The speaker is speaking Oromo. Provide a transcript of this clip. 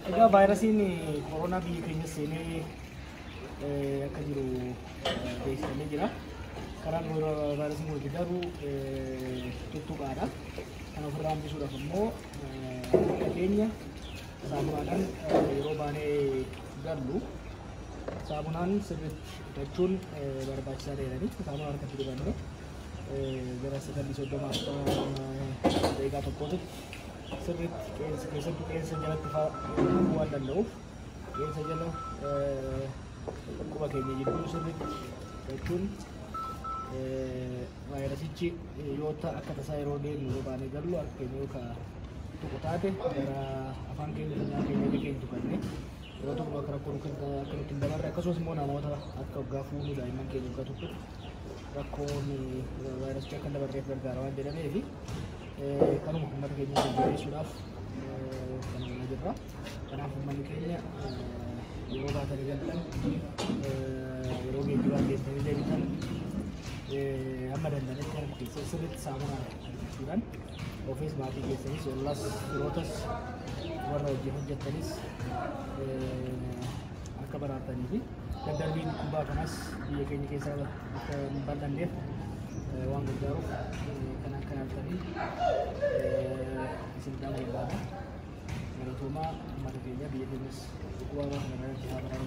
Egaa vaayirasiin koronaa biyya keenya seenee eh, akka jiru eh, beeksifamee jira. Karaan vaayira- vaayirasiin kun itti darbu eh, tuttuqaadha. Kan ofirraa hambisuudhaaf immoo eh, harka keenya saamunaadhaan eh, yeroo baanee gallu saamunaan sirriitti hidhachuun eh, barbaachisaa ta'edha. Saamunaa harkatti dibannee gara sakandii soddoma akka daqiiqaa tokkootti sirriitti qeensa keessattuu qeensa jalatti fa'aa waan danda'uuf qeensa jala quba keenya jidduu sirriitti jechuun vaayirasichi yoo ta'a akka tasaa yeroo deemu yoo baanee gallu harka keenya yoo ka'a tokko taate gara afaan keenya sanaa keenya illee keenya tuqannee yeroo tokko akka rakkoo akka nutti hin dabarre akkasumas immoo namoota akka waggaa fuunuu daa'imman keenya waggaa tokkotti rakkoon vaayirasicha akka hin dabarreef gargaara waan jedhameef kanuma uummata keenya jajjabeessuudhaaf kan hojjechaa jirra. Kanaaf uummanni keenya yeroo baatanii galtan yeroo geejjibaan geessanii deebitan amma danda'anitti harka keessan sirriitti saamunaa jechuudhaan ofiis maatii keessanis ollas firootas warra hojii hojjettanis akka baraatanii fi Daddarbiin dhukkubaa kanas biyya keenya keessa akka hin bal'anneef waan gargaaruuf kan akka naaftanii isin qaama barbaada. Galatoomaa uummata keenya biyya keenyas dhukkubaa waan kana irratti haa baraaru.